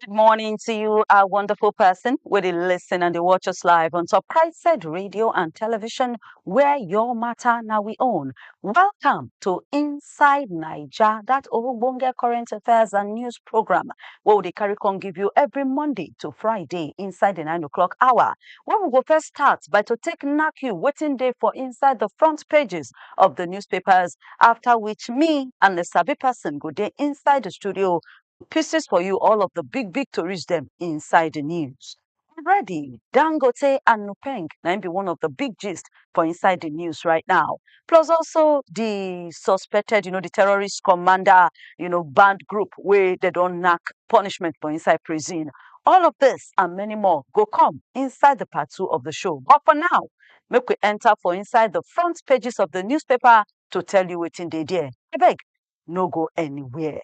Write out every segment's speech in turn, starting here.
Good morning to you, our wonderful person, where they listen and they watch us live on Top Christ Said Radio and Television, where your matter now we own. Welcome to Inside Niger, that Ogbonge Current Affairs and News program, where we dey carry come give you every Monday to Friday inside the 9 o'clock hour. Where we go first start by to take knock you waiting day for inside the front pages of the newspapers, after which me and the savvy person go day inside the studio pieces for you all of the big big tories dem inside the news. Already, Dangote and Nupeng na im be one of the big gist for inside the news right now. Plus also the suspected, you know, the terrorist commander, you know, band group where they don't knock punishment for inside prison. All of this and many more go come inside the part two of the show. But for now, make we enter for inside the front pages of the newspaper to tell you what's in the there. I beg, no go anywhere.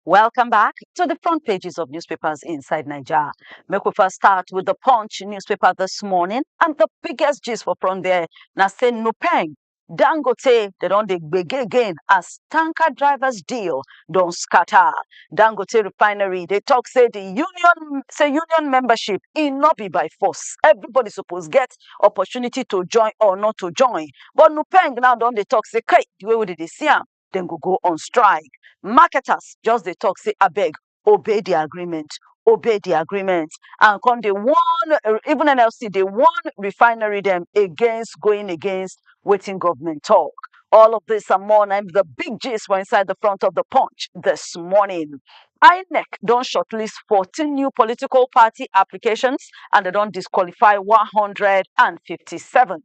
Welcome back to the front pages of newspapers inside Nigeria. Make we first start with the Punch newspaper this morning, and the biggest gist for front there now say Nupeng Dangote dey don dey gbege again as tanker drivers deal don scatter. Dangote refinery dey talk say the union say union membership e no be by force. Everybody suppose get opportunity to join or not to join. But Nupeng now don dey talk say kai the way wey dem dey see am dem go go on strike. Marketers just dey talk say abeg obey the agreement, obey the agreement and come dey warn, even NLC dey warn refinery dem against going against wetin government talk. All of this and more na im be the big gist for inside the front of the punch this morning. INEC don shortlist 14 new political party applications and dem don disqualify 157.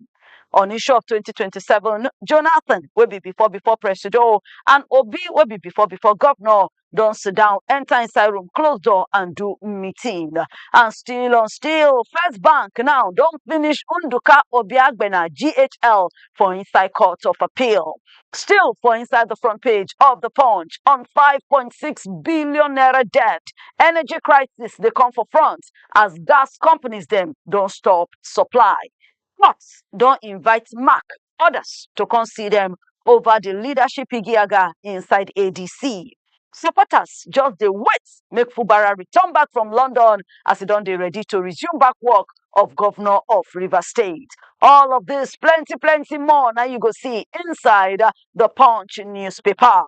On issue of 2027, Jonathan, wey be before before presido, and Obi, wey be before before governor, don sit down, enter inside room, close door, and do meeting. And still on still, First Bank now don finish Nduka Obiagbena GHL for inside court of appeal. Still for inside the front page of the Punch on 5.6 billion naira debt, energy crisis dey come for front as gas companies dem don stop supply. Fox don invite Mark others to come see them over the leadership igiaga inside ADC. Supporters just dey wait make Fubara return back from London as e don dey ready to resume back work of governor of Rivers State. All of this plenty plenty more na you go see inside the Punch newspaper.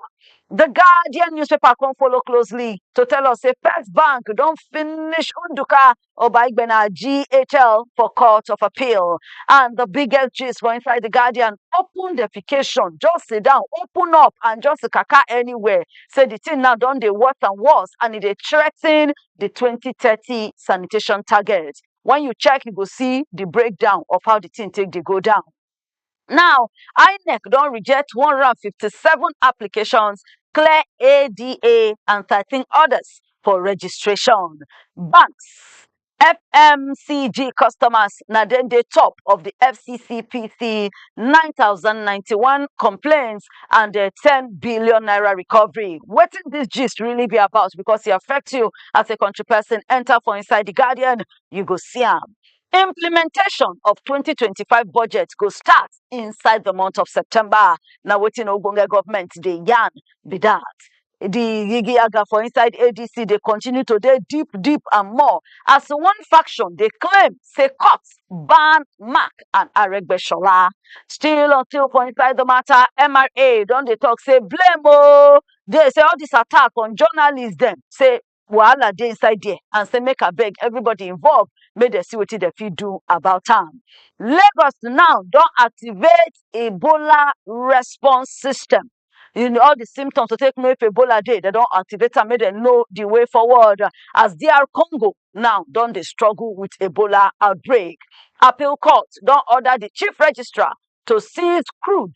The Guardian newspaper come follow closely to tell us say First Bank don finish Nduka Oba Igbena GHL for Court of Appeal. And the biggest gist for inside the Guardian, open defecation, just sit down, open up and just kaka anywhere. Say the thing now done the worse and worse and it dey threaten the 2030 sanitation target. When you check, you go see the breakdown of how the thing take dey go down. Now, INEC don reject 157 applications, clear ADA and 13 others for registration. Banks, FMCG customers na dem dey top of the FCCPC 9,091 complaints and uh, 10 billion naira recovery. Wetin this gist really be about because e affect you as a country person. Enter for inside the Guardian, you go see am. Implementation of twenty twenty five budget go start inside the month of September. Na wetin ogbonge government dey yarn be that. The yigiyaga for inside ADC dey continue to dey deep deep and more as one faction dey claim say court ban Mark and Aregbesola. Still until for inside the matter, MRA don dey talk say blame oh dey say all this attack on journalists dem say wahala dey inside there and say make abeg everybody involve make dem see wetin dem fit do about am. Lagos now don activate Ebola response system in all the symptoms to take know if Ebola dey dem don activate am make dem know the way forward as DR Congo now don dey struggle with Ebola outbreak. Appeal court don order the chief registrar to seize crude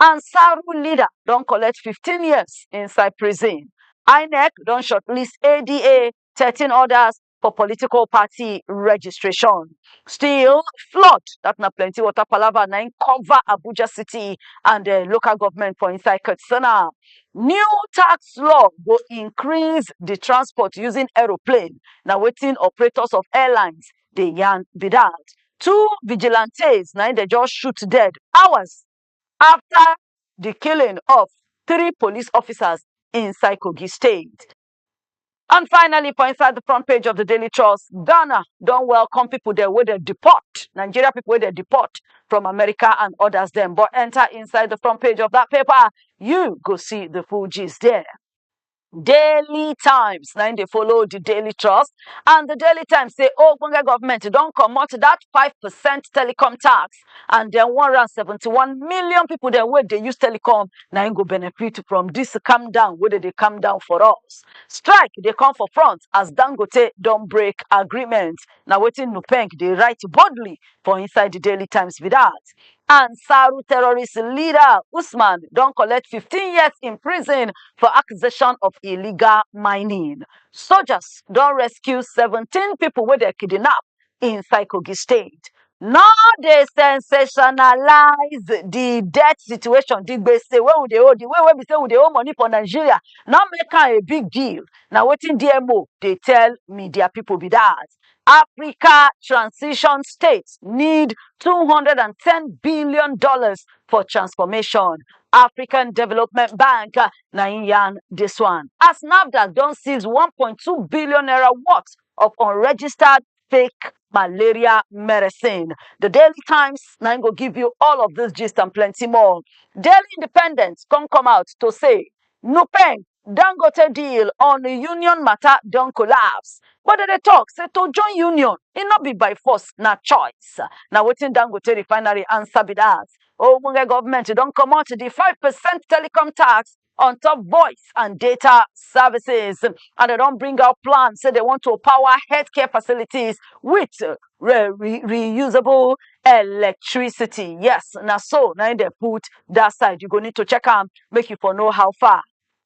Ansaru leader don collect 15 years inside prison. INEC don shortlist ADA 13 others for political party registration. Still, flood, that na plenty water palava na im cover Abuja city and the local government for inside Katsina. New tax law go increase the transport using aeroplane. Na wetin operators of airlines dey yarn be that. Two vigilantes na im dey just shoot dead hours afta di killing of three police officers inside Kogi state. And finally, for inside the front page of the Daily Trust, Ghana don welcome people there wey dem deport, Nigeria people wey dem deport from America and others dem. But enter inside the front page of that paper, you go see the full gist there. Daily Times na im dey follow the Daily Trust and the Daily Times say ogbonge government don comot that five percent telecom tax and then one hundred and seventy-one million people dem wey dey use telecom na im go benefit from this calm down wey dem dey calm down for us. Strike dey come for front as Dangote don break agreement na wetin Nupeng dey write boldly for inside the Daily Times be that. Ansaru terrorist leader Usman don collect 15 years in prison for accusation of illegal mining. Soldiers don rescue 17 people wey dem kidnap inside Kogi State. No dey sensationalize the debt situation, the gbese wey we dey owe, the way wey be say we dey owe money for Nigeria, no make am a big deal, na wetin DMO dey tell media people be that. Africa transition states need $210 billion for transformation. African Development Bank uh, na im yarn this one. As NAFDAC don seize 1.2 billion naira worth of unregistered fake malaria medicine. The Daily Times na im go give you all of this gist and plenty more. Daily Independent come come out to say Nupeng Dangote deal on union matter don collapse, but dem dey talk say to join union, e no be by force, na choice. Na wetin Dangote refinery answer be that. Ogbonge government don comot the five percent telecom tax on top voice and data services and dem don bring out plan say dem want to power healthcare facilities with re re reusable electricity yes na so na im dem put that side you go need to check am make you for know how far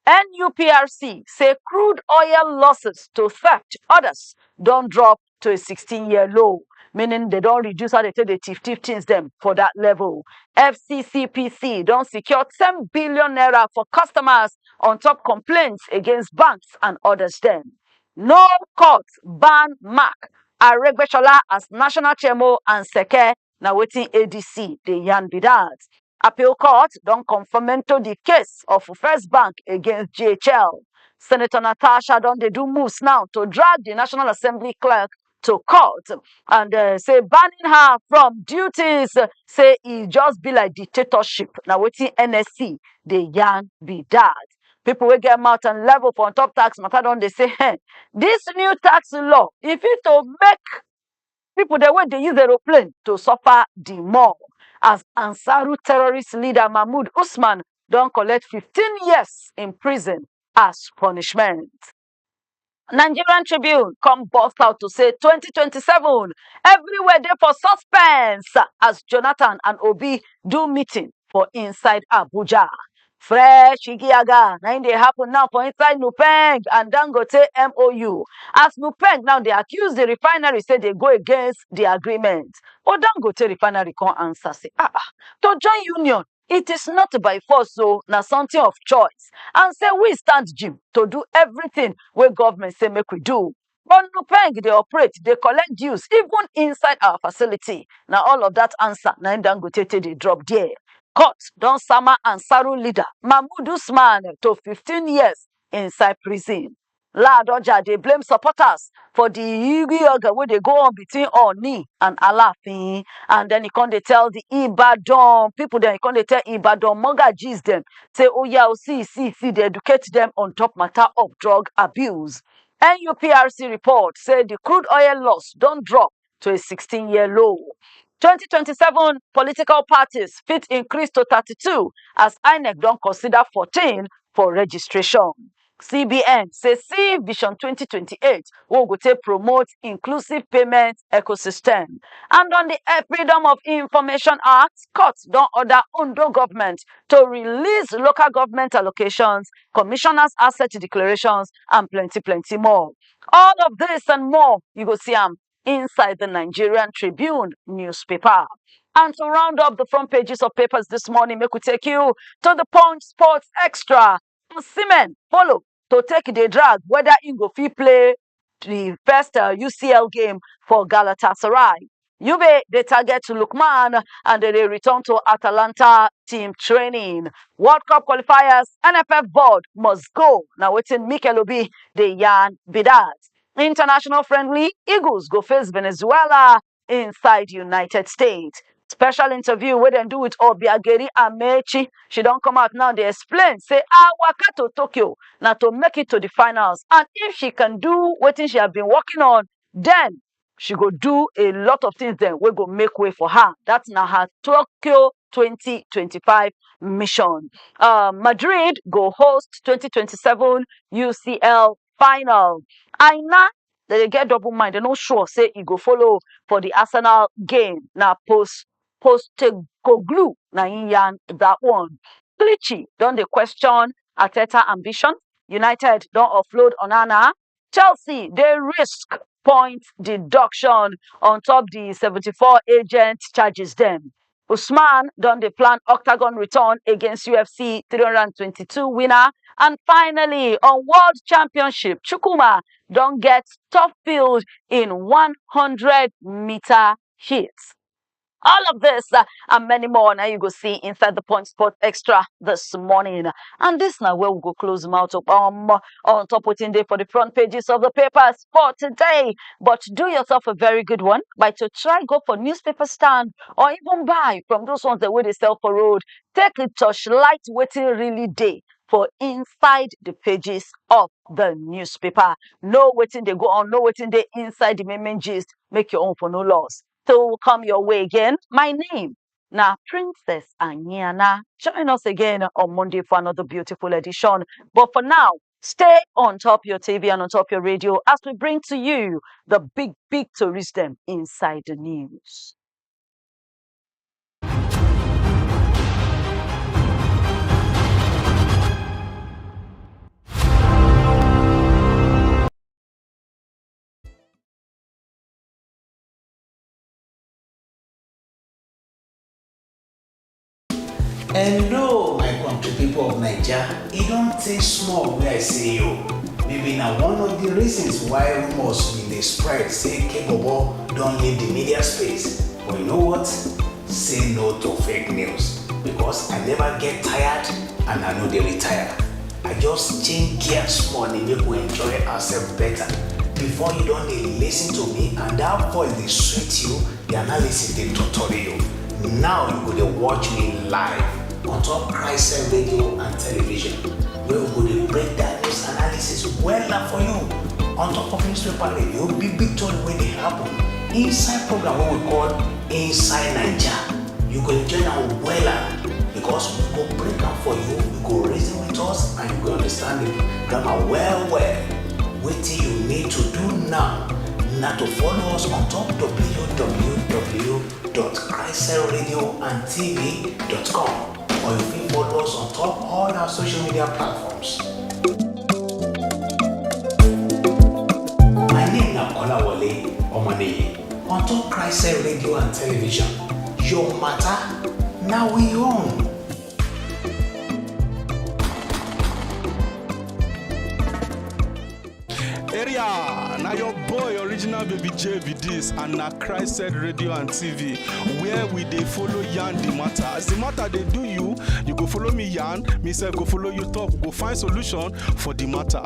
nuprc say crude oil losses to theft others don drop to a 16 year low meaning they don reduce how they take dey thief thief things dem for that level fccpc don secure 10 billion naira for customers on top complaints against banks and others dem No court ban Mark Aregbesola as national chairmo and seke, na wetin ADC dey yarn be dat. Appeal court don confamento di case of First Bank against JHL. Senator Natasha don dey do moves now to drag di National Assembly clerk to court and uh, say banning her from duties uh, say e just be like dictatorship na wetin nsc dey yarn be that. People wey get mouth and level for on top tax matter don dey say hey, this new tax law e fit to make people dem wey dey use aeroplane to suffer the more as Ansaru terrorist leader Mahmoud Usman don collect 15 years in prison as punishment. Nigerian Tribune come burst out to say 2027 everywhere dey for suspense as Jonathan and Obi do meeting for inside Abuja. Fresh Igiaga na im dey happen now for inside Nupeng and Dangote MOU as Nupeng now dey accuse the refinery say dey go against the agreement but Dangote refinery come answer say ah ah to join union It is not by force o, na something of choice and say we stand gym to do everything wey government say make we do. But Nupeng dey operate, dey collect dues even inside our facility. Na all of that answer na im Dangote take dey drop there. Court don sama Ansaru leader Mahmood Usman to fifteen years inside prison. Ladoja dey blame supporters for di yigi-yoga wey dey go on between Ooni and Alaafin and then e come dey tell di Ibadan people dem, e come dey tell Ibadan Mogajis dem say oya o, see see see dey educate dem on top matter of drug abuse. NUPRC report say di crude oil loss don drop to a 16 year low. 2027 political parties fit increase to 32 as INEC don consider 14 for registration. CBN say see Vision 2028 wey go take promote inclusive payment ecosystem. And on the eh, Freedom of Information Act, court don order Ondo government to release local government allocations, commissioners' asset declarations, and plenty, plenty more. All of this and more, you go see am inside the Nigerian Tribune newspaper. And to round up the front pages of papers this morning, make we take you to the Punch Sports Extra. Osimhen follow to take the drag whether he go fit play the first uh, UCL game for Galatasaray. Juve dey target Lookman and dem dey return to Atalanta team training. World Cup qualifiers, NFF board must go, na wetin Mikel Obi dey yarn be that. International friendly, Eagles go face Venezuela inside United States. Special interview wey dem do with Obiageri Amechi, she don come out now dey explain say her waka to Tokyo na to make it to the finals and if she can do wetin she has been working on, then She go do a lot of things dem wey go make way for her, dat na her Tokyo twenty twenty five mission. um Madrid go host twenty twenty seven UCL final. Aina, dem dey get double mind, dem no sure say e go follow for di Arsenal game, na Pos Postecoglou na im yarn dat one. Clichy don dey question Arteta ambition, United don offload Onana, Chelsea dey risk point deduction on top di 74 agent charges dem. Usman don dey plan octagon return against UFC 322 winner and finally on World Championship, Chukwuma don get top field in 100 meter heat. All of this uh, and many more now you go see inside the Point Sport Extra this morning. And this now where we go close mouth up um, on top waiting day for the front pages of the papers for today. But do yourself a very good one by to try go for newspaper stand or even buy from those ones that where they sell for road. Take a touch light waiting really day for inside the pages of the newspaper. No waiting they go on, no waiting they inside the main gist. Make your own for no loss. to come your way again. My name na Princess Anyana. Join us again on Monday for another beautiful edition. But for now, stay on top your TV and on top your radio as we bring to you the big, big tourist them inside the news. Hello, my country people of Naija. E don tey small wey I see you. Maybe na one of the reasons why rumors bin dey spread say Kebobo don leave the media space. But you know what? Say no to fake news because I never get tired and I no dey retire. I just change gear small dey make we enjoy ourselves better. Before you don dey listen to me and that voice dey sweet you, the analysis dey totori you. Now you go dey watch me live on top Christ radio and television wey we go dey break that news analysis wella for you on top of newspaper radio, big big tori wey dey happen inside program wey we call inside naija you go enjoy am wella because we go break am for you you go reason with us and you go understand the grammar well well wetin you need to do now na to follow us on top www.christcelradioandtv.com or you fit follow us on top all our social media platforms. My name na Kolawole Omoniyi. On top Christ radio and television, your matter now we own. area na your boy original baby j be dis and na christ said radio and tv where we dey follow yarn the matter as the matter dey do you you go follow me yarn me sef go follow you talk we go find solution for the matter.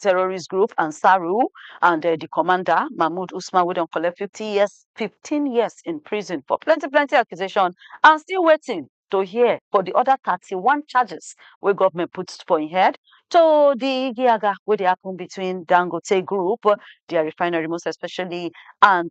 terrorist group Ansaru and uh, the commander Mahmoud Usman wey don collect 50 years 15 years in prison for plenty plenty accusation and still waiting to hear for the other 31 charges wey government put for im head to the yaga wey dey happen between Dangote group their refinery most especially and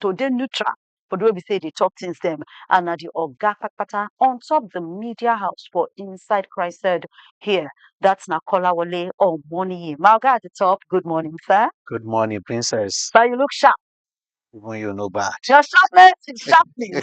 to dey neutral for di way be sey e dey talk things dem and na di oga patapata on top di media house for inside Christched here dat na Kolawole Omoniyi. My oga at di top good morning sir. Good morning princess. Sir you look sharp. Even you no bad. Your sharpness is sharpening.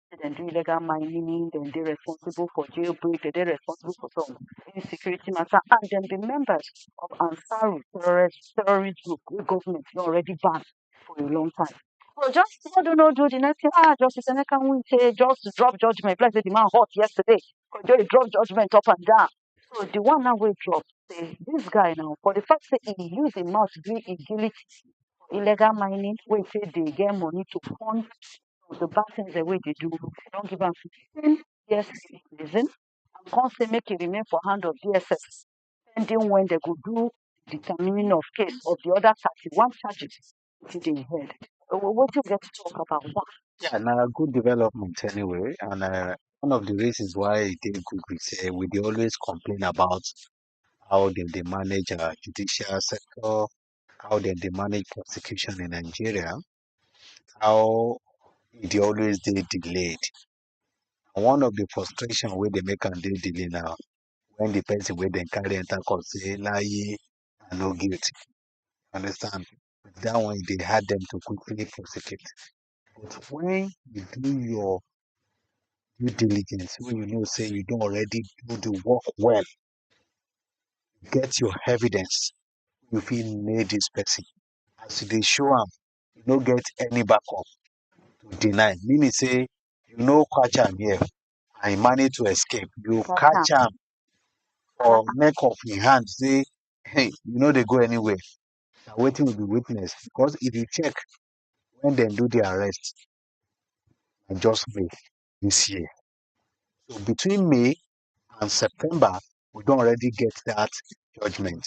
dem do illegal mining, dem dey responsible for jail break, dem dey responsible for some insecurity matter and dem be members of Ansaru terrorist terrorist group wey government don already ban for a long time. So just no do no do the next thing ah Justice Emeka Nwite just drop judgement be like say the man hot yesterday because he drop judgement up and down. So the one now wey drop say this guy now for the fact say he use him mouth gree him guilty illegal mining wey he say dey get money to fund of the bad things dem wey e dey do, e don give am fifteen years in prison and come say make e remain for hand of DSS pending when dem go do the determining of case of the other thirty one charges wey dey im head. Wetin we get to talk about dat? Yeah, na good development anyway and um one of the reasons why e dey good be say we dey always complain about how dem dey manage our judicial sector, how dem dey manage prosecution in Nigeria how e dey always dey delayed. And one of the frustration wey dey make am dey delayed na when the person wey dem carry enter court say layi I no guilty. You understand? That one e dey hard them to quickly prosecute. But when you do your due diligence, wey you know say you don already do the work well, get your evidence, you fit nail this person. as you dey show am, you no get any back up to deny, meaning sey you no catch am here and you manage to escape, you catch am for neck of im hand sey um you no dey go anywhere, na wetin we dey witness because if you check wen dem do de arrest na just May dis year. So between May and September we don already get dat judgement.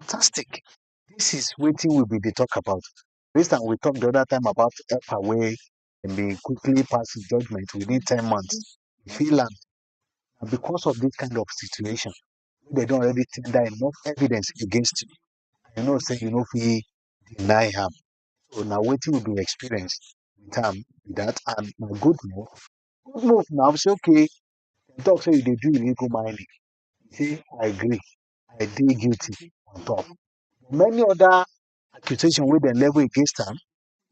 Fantastic, dis is wetin we be dey talk about base on we talk de other time about helper wey dem dey quickly pass judgement within ten months, e fit land na because of dis kind of situation wey dem don already tender enough evidence against you and you know sey you no fit deny am. So na wetin we be experience wit am be dat and na good move, good move na sey okay dem talk sey you dey do illegal mining, you sey I agree I dey guilty on top. Many other accusation wey dem level against am,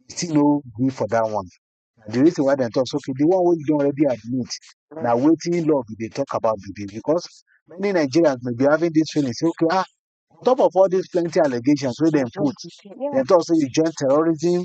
e still no gree for dat one. Na de reason why dem talk say okay de one wey you don already admit na wetin law be dey talk about be dis because many Nigerians may be having dis feeling say okay um on top of all dis plenty allegations wey dem put, dem talk say you join terrorism,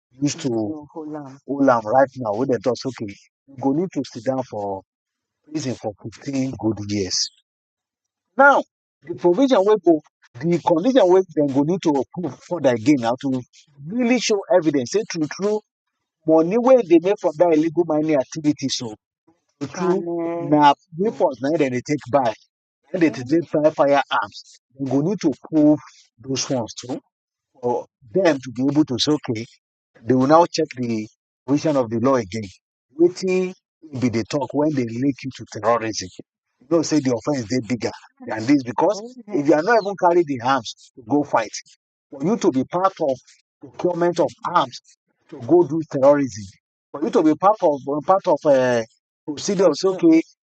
use to hold am hold am right now wey dem talk say okay you go need to sit down for prison for fifteen good years. Now de provision wey go de condition wey dem go need to prove further again na to really show evidence sey true true money wey e dey make from dat illegal mining activities so true true na weapons na im dem dey take buy Wen dem dey take buy firearms, dem go need to prove those ones too for dem to be able to say okay, dey will now check de position of de law again, wetin im be dey talk wen dey link you to terrorism. You know sey de offense dey bigger dan dis because if you are not even carry de arms go fight, for you to be part of procurement of arms to go do terrorism, for you to be part of part of um procedure of sey okay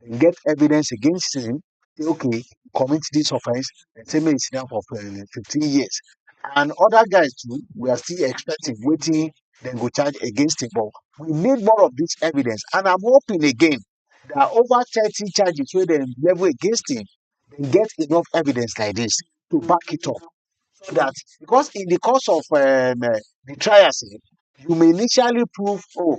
dem get evidence against him say okay commit this offence dem say make him sit down for um fifteen years and other guys too we are still expecting wetin dem go charge against him but we need more of this evidence and I'm hoping again that over thirty charges wey dem level against him dem get enough evidence like this to back it up so that because in the course of um the trial sef you may initially prove oh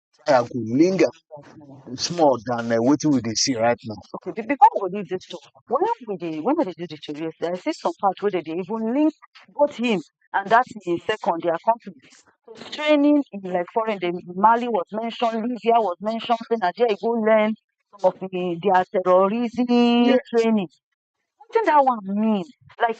trial go linger small than um wetin we dey see right now. Okay, be before we go leave dis tok, wen we dey wen dem dey do di tori yes, I see some part wey dem dey even link both him and dat im second dia accomplice to training in like foreign dem Mali was mentioned, Libya was mentioned sey na dia e go learn some of im dia terrorism training. Wetin dat one mean? Like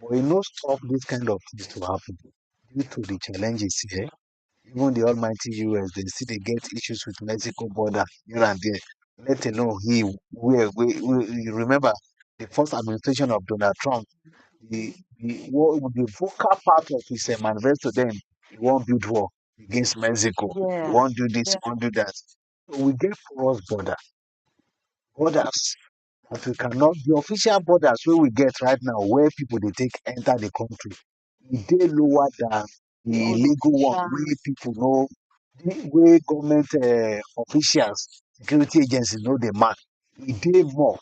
but e no stop dis kind of tins to happun due to di challenges here. Even di almighty US dem still dey get issues wit Mexico border here and dia, let alone im wia wey you remember di first administration of Donald Trump, di di wall di vocal part of his um manifesto den, e wan build wall against Mexico, e wan do dis, e wan do dat. So we get porous border. Borders as we cannot di official borders wey we get right now wey pipu dey take enter di country e dey lower dan di legal one wey pipu no wey government um officials security agencies no dey mark e dey more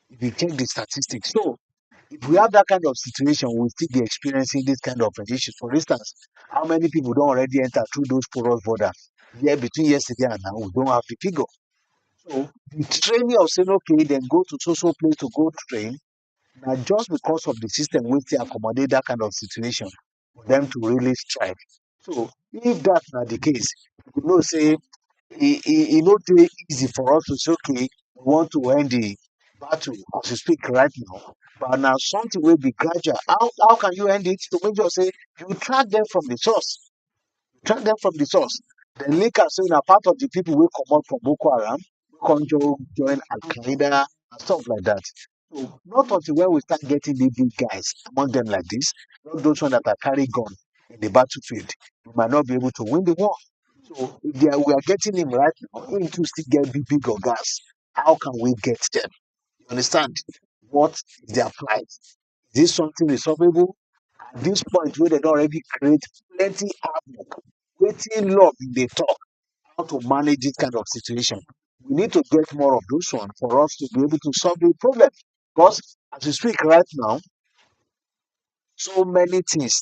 if you check di statistics so if we have dat kind of situation we will still be experiencing dis kind of issues for instance how many pipu don already enter through those porous borders between yesterday and now we don't have di figure So di training of sey okay dem go to so so place to go train na just because of di system wey take accommodate dat kind of situation for dem to really strive. So if dat na di case, you go know sey e e e no dey easy for us to say okay we want to end di battle as we speak right now but na something wey be gradual. How how can you end it? To make sure sey you track dem from di source drag dem from the source. Dem link am say na part of the people wey comot from Boko Haram come jo- join Al Qaeda and stuff like that. So not until when we start getting the big guys among them like this, not those ones that are carry gun in the battlefield, we might not be able to win the war. So if they are, we are getting him right now, him to still get big big guys. How can we get them? You understand? What is their price? Is this something resolvable? At this point wey dem don already create plenty havoc, wetin law bin dey talk how to manage this kind of situation? We need to get more of those ones for us to be able to solve the problem because as we speak right now, so many things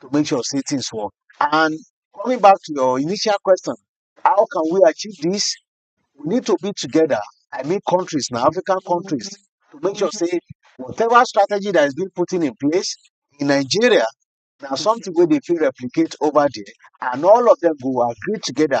to make sure sey things work and coming back to your initial question how can we achieve this we need to be together I mean countries na African countries to make sure sey whatever strategy that is being put in place in Nigeria na something wey dey fit replicate over there and all of them go agree together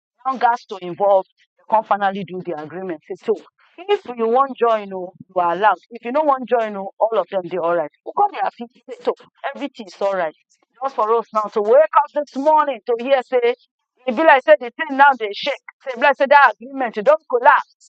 now gats to involve dem come finally do di agreement say so if you wan join oh you are allowed if you no wan join oh all of dem dey alright dem come dey happy say to everytin is alright just for us now to wake up dis morning to hear say e be like say di tin now dey shake say e be like say dat agreement don collapse.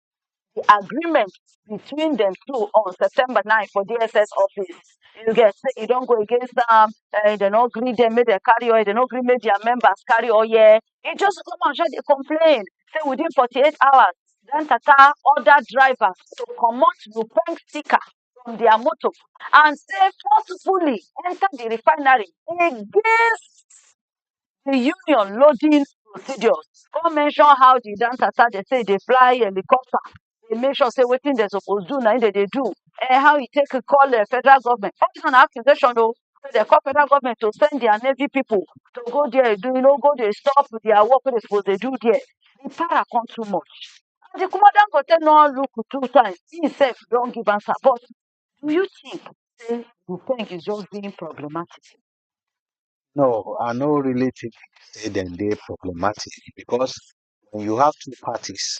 the agreement between dem two on September 9 for DSS office. You get say e don go against am, eh, dem no gree dem make dem carry oil, dem no gree make their members carry oil. E just come out just dey complain say within 48 hours, Dan Tata order drivers to comot Lupeng sticker from their motor and say forcefully enter the refinery against di union loading procedures come mention how di Dan Carter dem say e dey fly helicopter dey make sure say wetin dem suppose do na im dem dey do um how e take call um federal government all dis one na accusation oh say dem call federal government to send dia navy pipu to go dia dey no go dey stop dia work wey dem suppose dey do dia di para come too much and di kuma Dangote no look two times im sef don give answer but do you think say Dupeng is just being problematic No, I no really think say dem dey problematic because when you have two parties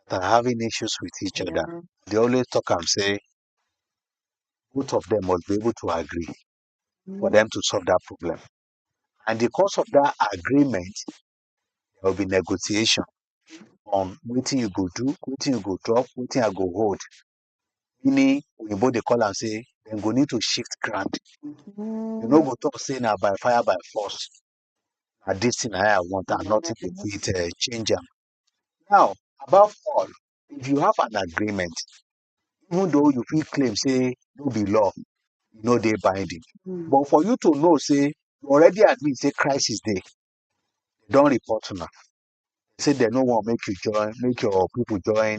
that are having issues with each other, Yeah. they always talk am say both of them must be able to agree for them to solve that problem. And because of that agreement, there will be negotiation on wetin you go do, wetin you go drop, wetin I go hold. meaning oyinbo dey call am sey dem go need to shift ground, you no go talk sey na by fire by force, na dis thing na im I want and nothing go fit um change am. Now above all if you have an agreement even though you fit claim sey no be law, e no dey binding but for you to know sey you already agree sey crisis dey, dem don report una sey dem no want make you join, make your pipu join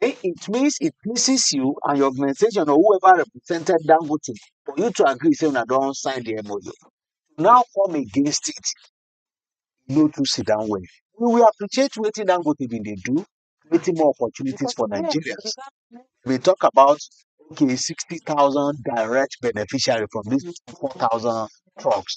Then it means it pleases you and your organization or whoever represented Dangote for you to agree say una don sign the MOU. Now come against it, no to sit down well. We will appreciate wetin Dangote bin dey do, creating more opportunities for Nigerians. We talk about okay, 60,000 direct beneficiary from these 4,000 trucks.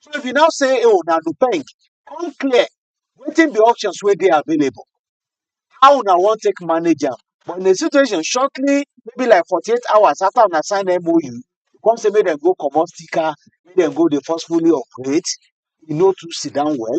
So if you now say, oh, now the bank, come clear, waiting the options where they are available. How now want take manage am? But in the situation, shortly, maybe like 48 hours after I sign MOU, you come say make them go comot sticker, make them go dey forcefully operate, e no too sit down well.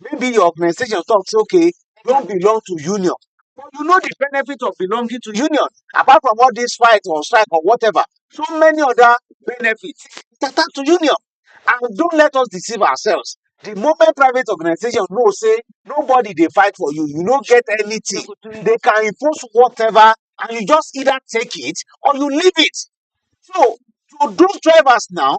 maybe your organization talk say okay you no belong to union but you know the benefit of belonging to union apart from all this fight or strike or whatever so many other benefit that are to union and don't let us deceive ourselves the moment private organization know say nobody dey fight for you you no get anything they can impose whatever and you just either take it or you leave it so to those drivers now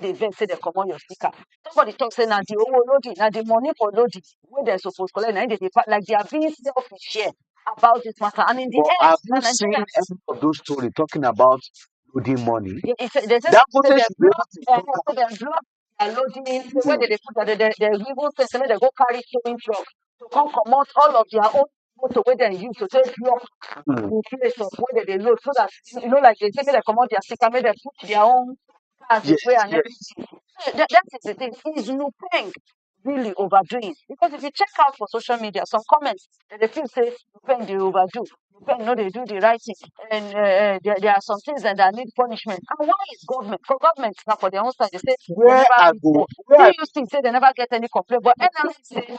dey vex sey dem comot your sticker, somebody talk sey na de owo loading, na de money for loading wey dem suppose collect na im dem dey pack, like they are being selfish here about dis matter and in de end na Nigerians. But have you seen any of those story talking about loading money? Dem sey sey dem block um sey dem block their loading where dem dey put their, dem dem even sey make dem go carry towing truck to come comot all of their own motor wey dem use to take block the place of where dem dey load so dat e no like dem say make dem comot their sticker make dem put their own card dey play and everything so dat dat is the thing is Nupeng really over doing because if you check out for social media some comment dem dey feel sey Nupeng dey over do Nupeng no dey do the right thing and um there there are somethings that that need punishment and why is government for government na for their own side dey sey dem never fit work VUC sey dem never get any complain but NLC sey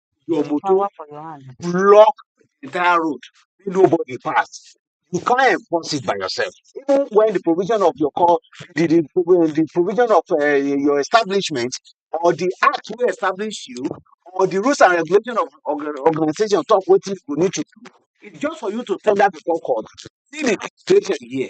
your motor block the entire road make nobody pass you can't enforce it by yourself even when the provision of your call the the the provision of um your establishment or the act wey establish you or the rules and regulation of orga organisation talk wetin you go need to do it's just for you to tell that before court see the situation here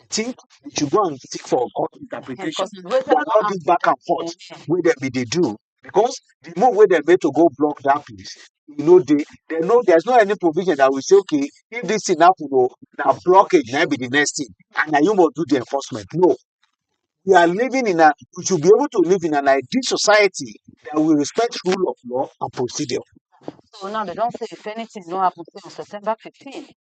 I think we should go and seek for court Ehen, interpretation because it's waiting for all this back and forth Africa. wey dem be dey do because the move wey dem make to go block that place e no dey there no there's no any provision that will say okay if this thing happen o na blockage na im be the next thing and na you must do the enforcement no we are living in a we should be able to live in an ideal society that will respect rule of law and procedure So now they don't say if anything no happen say on September 15,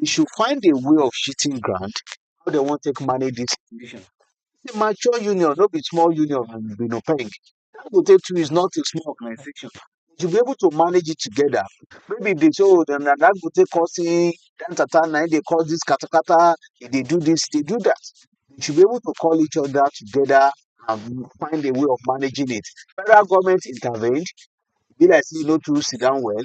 dey should find a way of shitting ground how dem wan take manage this situation. This a mature union no be small union o be no peng Dangote too is not a small organization dey should be able to manage it together no be dey say o dem na Dangote causing jantata na him dey cause this katakata e dey do this e dey do that dey should be able to call each other together and find a way of managing it federal government intervened e be like say e no too sit down well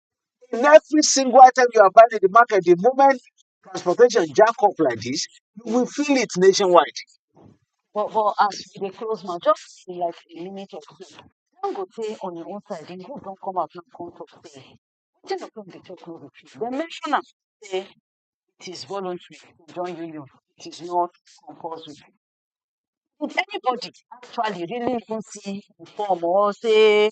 in every single item you are buying in the market, the moment transportation jack up like this, you will feel it nationwide. But, but as we dey close now, just in like a minute or two, Dangote on your own side, the group don't come out and come talk say, wetin the come dey talk no be true. They mention am say it is voluntary to join union, it is not compulsory. Did anybody actually really even see the form or say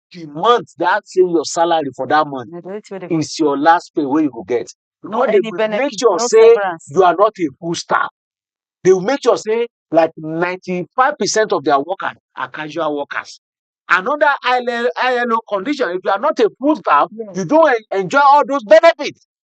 the month that same your salary for that month Na the only thing wey dey go is your last pay wey you go get. no Because they any will make benefit, sure no say severance. you are not a full staff. They will make sure say like 95% of their workers are casual workers. Another ILO, ILO condition, if you are not a full staff, Yeah. you don't en- enjoy all those benefits.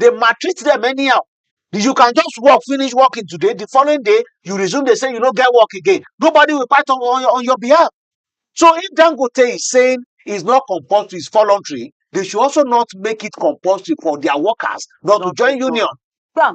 dey maltreat dem anyhow you can just work finish working today the following day you resume dey say you no get work again nobody will fight on on your on your behalf so if dangote is saying is not compulsory is voluntary they should also not make it compulsory for their workers not to Not to join join. union Bam.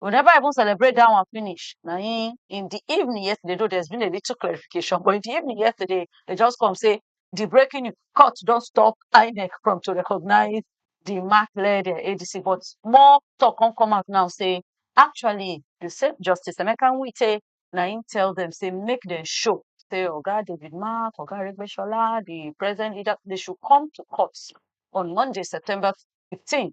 we never even celebrate that one finish na him in the evening yesterday though there's been a little clarification but in the evening yesterday they just come say the breaking news court don stop INEC from to recognize the mark led um ADC but more talk come come out now say actually the same justice Emeka Nwite na him tell them say make them show say oga David mark oga Aregbesola the present leader they should come to court on Monday September fifteen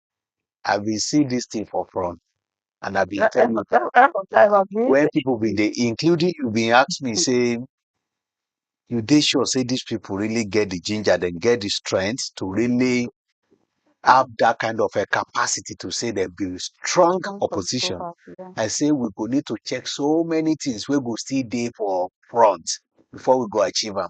I been see this thing for front and I been tell you when people been they including you been ask me say you they sure say these people really get the ginger then get the strength to really have that kind of a capacity to say they be strong opposition. I say we go need to check so many things we go still day for front before we go achieve them.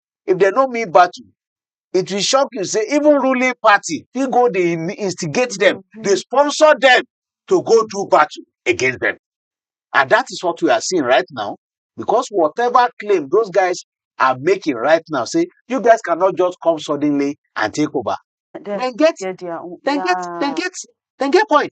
if dem no mean battle, it will shock you say even ruling party fit go dey in- instigate them, dey sponsor them to go do battle against them. And that is what we are seeing right now because whatever claim those guys are making right now, say you guys cannot just come suddenly and take over. Dem Then get get their own. then get then Yeah. get then get point.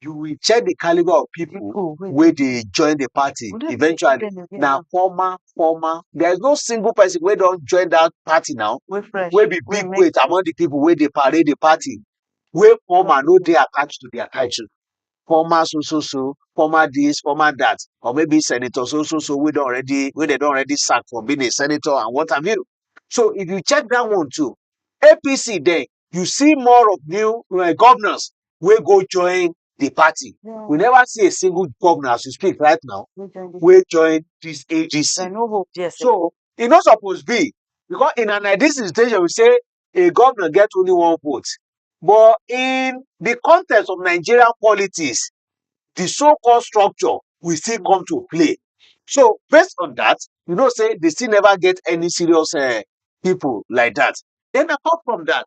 you will check the caliber of people People wey wey dey join the party we no even dey see eventually them again na now. former former there is no single person wey don join that party now Wey fresh. wey be Wey big make weight among the people wey dey parade the party wey former no dey attached to their title former so so so former this former that or maybe senator so so so wey don already wey dem don already sack for being a senator and what have you so if you check that one too apc then you see more of new uh, governors wey go join the party. Yeah. We never see a single governor as you speak right now wey join this AGC. No hope, yes, so e no suppose be because in an ideal situation we say a governor get only one vote but in the context of Nigerian politics the so-called structure will still mm. come to play. So based on that, you know, say they still never get any serious uh, people like that. Then apart from that,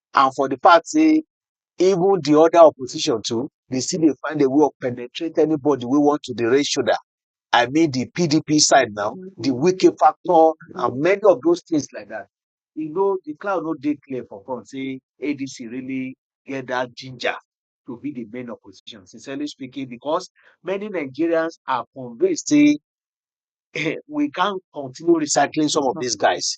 and for the fact sey even the other opposition too, they still dey find a way of penetrate anybody wey want to dey raise shoulder. I mean the PDP side now, the Wike factor and many of dos things like dat. E no the cloud no dey clear for front sey ADC really get dat ginger to be the main opposition sincerely speaking because many Nigerians are convinced sey um we can't continue recycling some of des guys.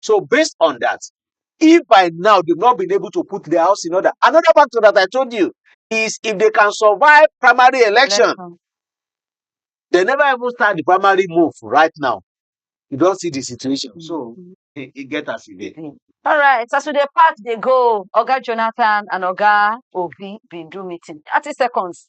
So based on that, if by now they've not been able to put their house in order, another factor that I told you is if they can survive primary election, Election. they never even start the primary move right now. You don't see the situation. So Mhm. it, it get as it dey. Mm. All right, so as we dey part dey go, Oga Jonathan and Oga Obi bin do meeting. Thirty seconds.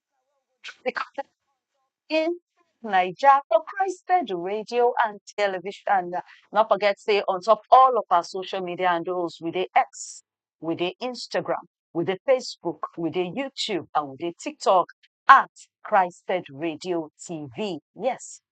in Naija for Christ Pedal Radio and Television. Not forget say on top all of our social media handles, we dey X, we dey Instagram, we dey Facebook, we dey YouTube, and we dey TikTok at Christ Pedal Radio TV. Yes,